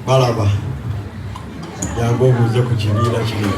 balaba yange obuuze ku kibiina kino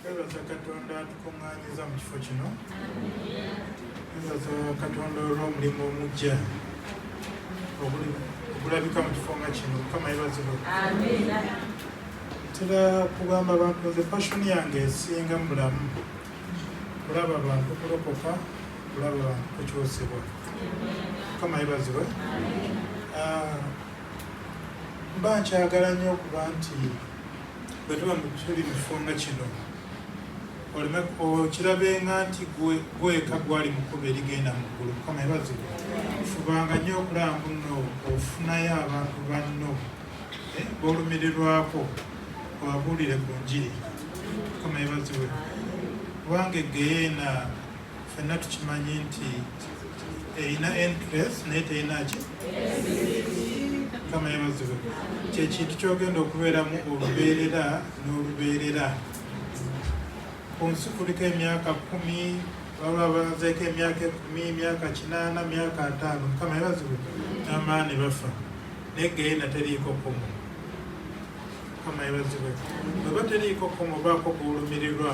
Twebaza Katonda atukuŋŋaanyiza mu kifo kino. Twebaza Katonda olw'omulimu omuggya ogulabika mu kifo nga kino. Mukama yebazibwe. Ntera kugamba abantu nze fashoni yange esinga mu bulamu kulaba bantu kulokoka, kulaba bantu kukyusibwa. Mukama yebazibwe. Ah, mba nkyagala nnyo okuba nti bwe tuba tuli mu kifo nga kino oleme okirabenga nti gweka gwali mukuba erigenda mu ggulu mukama ebazibwa fubanga nnyo okulaba muno ofunayo abantu banno eh, bolumirirwako obabuulire ku njiri mukama ebazibwe kubanga egeyeena fenna tukimanyi nti erina encres naye terinaki kama yamazibu kyekintu kyogenda okubeeramu olubeerera n'olubeerera ku nsi kuliko emyaka kumi baba bazeeko emyaka ekumi myaka kinaana myaka ataano mukama yabazibu namaani bafa naye geyena teriiko kumu mukama yabazibu bweba teriiko kumu baako kuwulumirirwa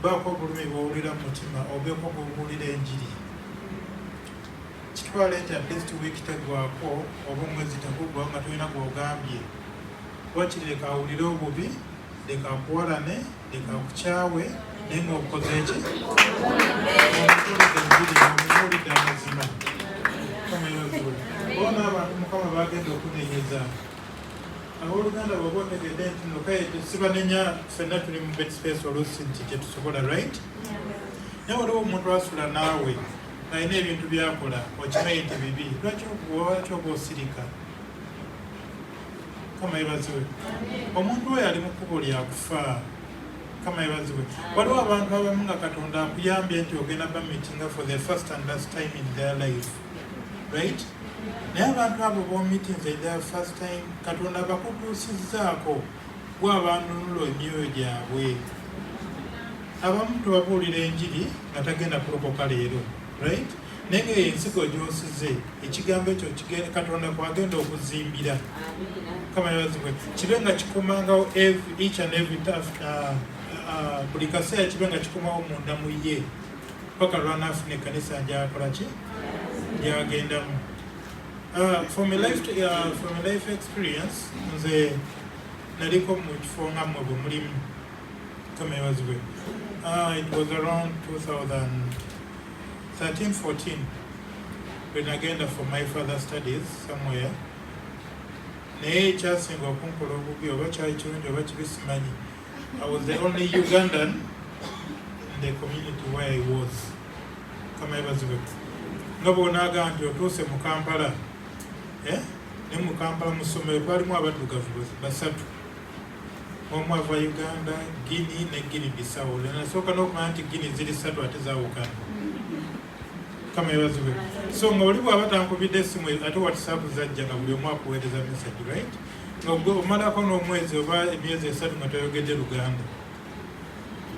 Baako obulumi bwowulira mu mutima obeeko bwobuulira enjiri. Kitwale nti atleast week tegwako oba omwezi tegugwa nga tolina gwogambye. Wakiri leka awulire obubi, leka akuwalane, leka akukyawe naye nga obukoze eki omubuulidde enjiri omubuulidde amazima. Mukama yebazibwe. Bona abantu Mukama bagenda okunenyeza. Aboluganda bwoba otegedde nti no kaye sibanenya ffenna tuli mu bed space oluusi nti tetusobola right naye waliwo omuntu asula naawe alina ebintu byakola okimanyi nti bibi lwaki lwaki oba osirika kama yebaziwe omuntu oyo ali mu kkubo lyakufa kama yebaziwe waliwo abantu abamu nga katonda akuyambye nti ogenda bamitinga for the first and last time in their life right naye abantu abo bomitinze the first time katonda bakutuusizzaako gwe abanunula emyoyo gyabwe abamu tubabuulira enjiri nga tagenda kulokoka leero right naye nga ensigo gyosize ekigambo ekyo katonda kwagenda okuzimbira kamayabazibwe kibe nga kikomangawo each and every uh, uh, buli kaseera kibe nga kikomawo munda mu ye paka lwanaafuna ekkanisa gyakola ki gyagendamu uh, from a life to, uh, from a life experience nze naliko mu kifo nga mmwe bwe mulimu kamewazibwe uh, it was around 2013 14 when agenda for my father studies somewhere naye ekyasinga okunkola obubi oba kyali kirungi oba kibi simanyi I was the only Ugandan in the community where I was. Kama ebazibwe. Nobo naga nti otuse mu Kampala. Eh? Ne mu Kampala mu somero kwali mu abatu gavu basatu. Omu ava Uganda, Guinea ne Guinea Bissau. Na soka no kwa anti Guinea zili satu ate za Uganda. Kama ebazibwe. So ngoli bwa batankubide simu ate WhatsApp zajja na buli omwa kuweleza message, right? ogwe omalako n'omwezi oba emyezi esatu nga toyogedde luganda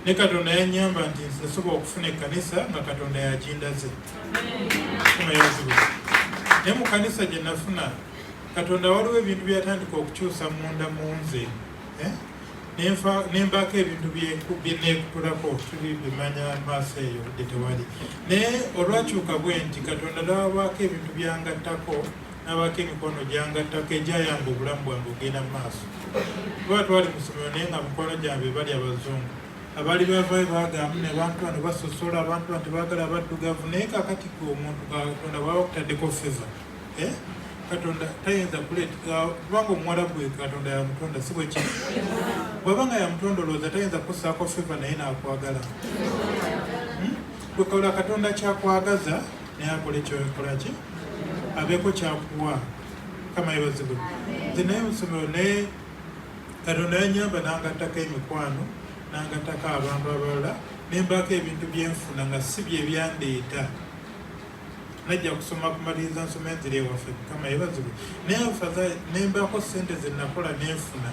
ne katonda yanyamba nti nsobola okufuna ekkanisa nga katonda yakindaze naye mu kanisa gye nafuna katonda waliwo ebintu byatandika okukyusa munda mu nze eh? nembaako ebintu byenekutulako tuli bimanya maaso eyo budde tewali naye olwakyuka bwe nti katonda nawabaako ebintu byangattako n'abaako emikono gyangattako egyayamba obulamu bwange ogenda mu maaso kuba twali mu ssomero naye nga mikwano gyange bali abazungu abaali bavayo bagamu ne bantu bano basosola abantu bano tebagala abaddugavu naye kakati gwe omuntu katonda bwaba kutaddeko feva eh? katonda tayinza kuletkubanga omuwala gwe katonda yamutonda si bweki bwaba nga yamutonda olowooza tayinza kusaako feva naye nakwagala hmm? kwekola katonda kyakwagaza naye akola ekyokolaki abeeko kyakuwa kama yebazibwe nze naye musomero naye katonda yanyamba nangattako emikwano nangattako abantu abalala nembaako ebintu byenfuna nga si byebyandeeta najja kusoma kumaliriza nsoma enzira ewaffe kama yebazibwe naye faza nembaako sente zenakola nenfuna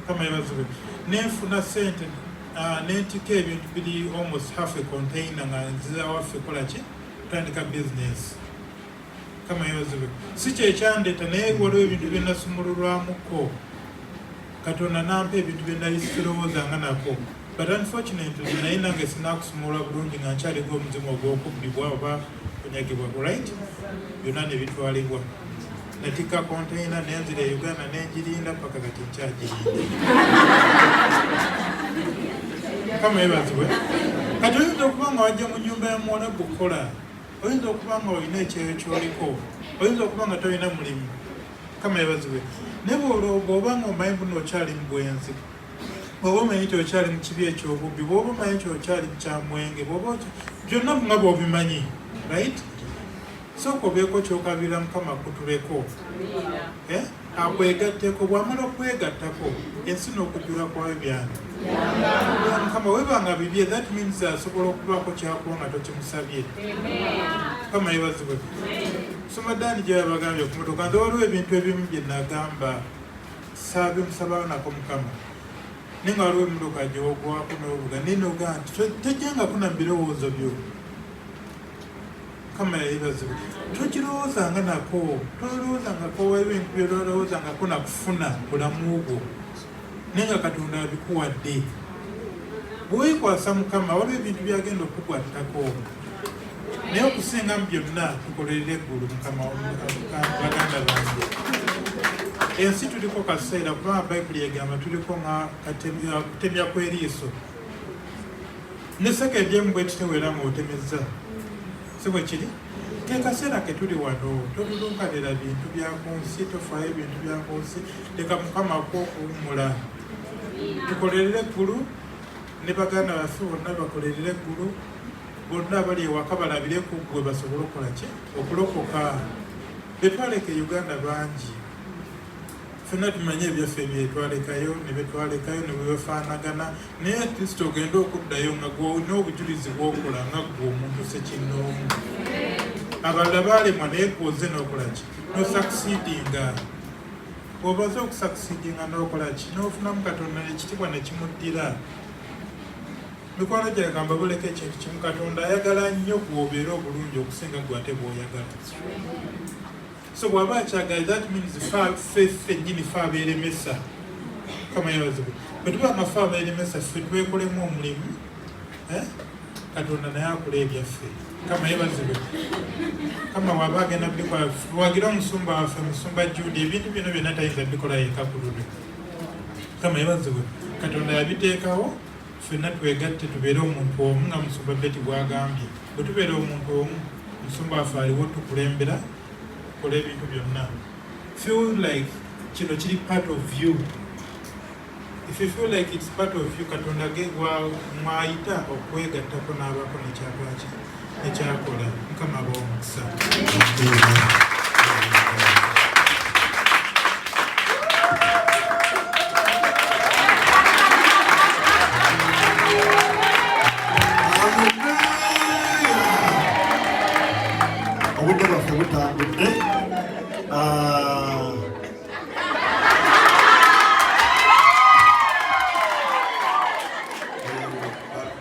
kama yebazibwe nenfuna sente ah, nentika ebintu biri almost half a container nga nziza waffe kolaki kutandika bizinesi kama yozibe si kyekyandeta naye waliwo ebintu byenasumululwamuko katonda nampa ebintu byenali sirowoozanga nako but unfortunately naye nange sinakusumulwa bulungi nga nkyaliga omuzimu ogwokubbibwa oba kunyagibwa right byonna nebitwalibwa natikka konteyina nenzira e uganda nenjirinda paka kati nkyajirinda kama ebazibwe kati oyinza okuba nga wajja mu nyumba ya muwala gukukola oyinza okuba nga olina ekyeyo kyoliko oyinza okuba nga tolina mulimu kama ebazibwe naye bwolooga oba nga omanyi buno okyali mu bwenzi bwoba omanyi nti okyali mu kibi ekyobubbi bwoba omanyi nti okyali mu kyamwenge bwoba byonna nga bwobimanyi right Sooka obeeko ky'okabirira Mukama akutubeko eh? akwegatteko bw'amala okwegattako ensi n'okujjula kwayo byani Mukama webanga bibye that means asobola okubaako kyakuwa nga tokimusabye Mukama yebazibwe soma daani gye yabagambye ku motoka nze waliwo ebintu ebimu bye nagamba saabe musabaanako Mukama naye nga waliwo emotoka gyewogwako n'obuga naye nogaa nti tojjangako na mu birowoozo byo mukama yayebazibwa tokirowoozanga nako tolowoozangako ebintu byololowoozangako nakufuna bulamu bwo naye nga katonda abikuwadde bwewekwasa mukama waliwo ebintu byagenda okukwattako naye okusinga mu byonna tukolerera eggulu mukama baganda bange ensi tuliko kaseera kuba bayibuli egamba tuliko nga kutemya kw'eriiso Ne sekendi emu bwe kityo era ng'otemezza. Si bwe kiri? Ke kaseera ke tuli wano, tolulunkanira bintu bya ku nsi, tofaayo bintu bya ku nsi, leka Mukama akuwe okuwummula. Tukolerere eggulu ne baganda baffe bonna bakolerere eggulu, bonna abali ewaka balabire ku ggwe basobole okukola ki? Okulokoka. Be twaleka e Uganda bangi. fena tumanyi ebyaffe byetwalekayo nebetwalekayo nebwebafanagana naye atleast ogenda okuddayo nga gwolina obujulizi bwokola nga gwe omuntu sekinoomu abalala balemwa naye gwoze nokolaki nosakisidinga obaze okusakisidinga nokolaki nofunamu katonda nekitibwa nekimuddira mikwano gyagamba buleka ekintu kimu katonda ayagala nnyo gwobeera obulungi okusinga gwe ate bwoyagala so bwaba akyagala that means fa fe fenyini fa abeeremesa kama yabazibu bwe tuba amafa abeeremesa ffe twekolemu omulimu eh? katonda naye akula ebyaffe kama yebazibu kama waba agenda bikola tuwagira omusumba waffe musumba jude ebintu bino byonna tayinza bikola yeka kululu kama yebazibu katonda yabiteekawo Ffenna twegatte tubeere omuntu omu nga Musumba Betty bw'agambye. Bwe tubeera omuntu omu, Musumba waffe aliwo tukulembera tukola ebintu byonna. Feel like kino kiri part of you. If you feel like it's part of you, Katonda ge mwayita okwegattako n'abaako nekyagwakyo. ekyakola mukama aba omukisa obudde bwaffe butambudde ah.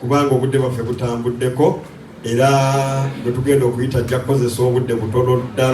kubanga obudde bwaffe butambuddeko era bwe tugenda okuyita ajja kukozesa obudde butono ddala.